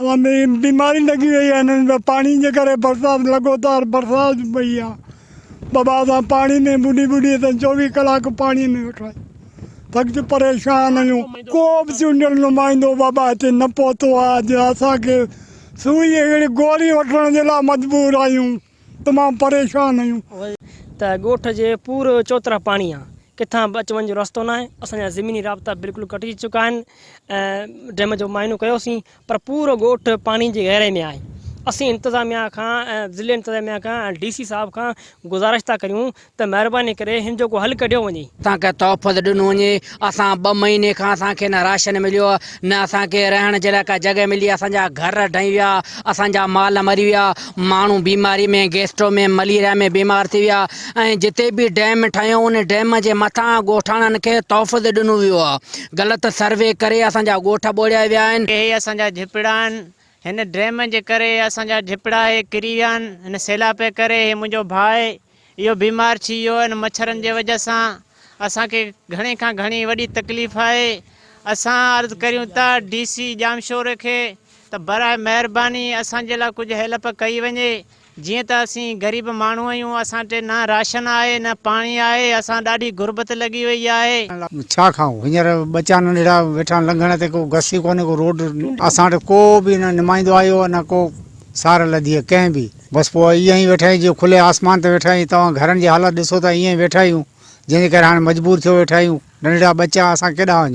اوهان ۾ بيماري لڳي وئي آهي انهن ۾ پاڻي جي ڪري برسات لڳوتار برسات پئي آهي ٻه ٻه اسان پاڻي ۾ ٻڏي ٻڏي اسان چوويهه ڪلاڪ پاڻي ۾ ويٺا آهيون سخت پريشان آهيون ڪو به چونڊيل نمائندو بابا هتي نه پهتو آهي جو اسان کي سوئي اهڙي گوري وٺڻ جي لاء مجبور آهيون تمام پريشان آهيون. ته ڳوٺ جي پور چوطرف پاڻي آ ڪٿان به اچ وڃ جو رستو ناهي اسان جا زميني رابطا بلڪل ڪٽجي چڪا آهن ۽ ڊيم جو معائنو ڪيو سين پر پورو ڳوٺ پاڻي جي گهيرائي ۾ آهي اسين انتظاميا کان ۽ ضلعي انتظاميا کان ۽ ڊي سي صاحب کان گذارش ٿا ڪريون ته مهرباني ڪري هن جو ڪو حل ڪڍيو وڃي. اسان کي تحفظ ڏنو وڃي اسان ٻه مهيني کان اسان کي نه راشن مليو نه اسان کي رهڻ جي لاء ڪا جڳهه ملي اسان جا گهر ڊهي ويا اسان جا مال مري ويا ماڻهو بيماري ۾ گيسٽو ۾ مليريا ۾ بيمار ٿي ويا ۽ جتي به ڊيم ٺهيو ان ڊيم جي مٿان ڳوٺاڻن کي تحفظ ڏنو ويو آهي غلط سروي ڪري اسان جا ڳوٺ ٻوڙيا ويا آهن. اهي اسان جا جهپڙا آهن هن ڊيم جي ڪري اسان جا جهپڙا اهي ڪري ويا آهن هن سيلاب جي ڪري هي منهنجو ڀاء اهو بيمار ڇي ويو ان مڇرن جي وجه سان اسان کي گهڻي کان گهڻي وڏي تڪليف آهي اسان عرض ڪريون ٿا ڊي سي ڄامشوري کي ته برائي مهرباني اسان جي لا ڪجهه هيلپ ڪئي وڃي جيئن ته اسين غريب ماڻهو اهيون اسان ٽي نه راشن آهي نه پاڻي آهي اسان ڏاڍي غربت لڳي وئي آهي. ڇا کائون هينئر ٻچا ننڍڙا ويٺا آهن لنگهڻ تي ڪو گس ئي ڪونهي ڪو روڊ اسان وٽ ڪو به نه نمائندو آيو نه ڪو سار لڌي آهي ڪنهن به. بس پوء ائين ئي ويٺا آهيون جيئن کلي آسمان تي ويٺا آهيون. توهان گهرن جي حالت ڏسو ته ائين ئي ويٺا آهيون، جنهن جي ڪري هاڻي مجبور ٿيو ويٺا آهيون. ننڍڙا ٻچا اسان ڪيڏانهن وڃون؟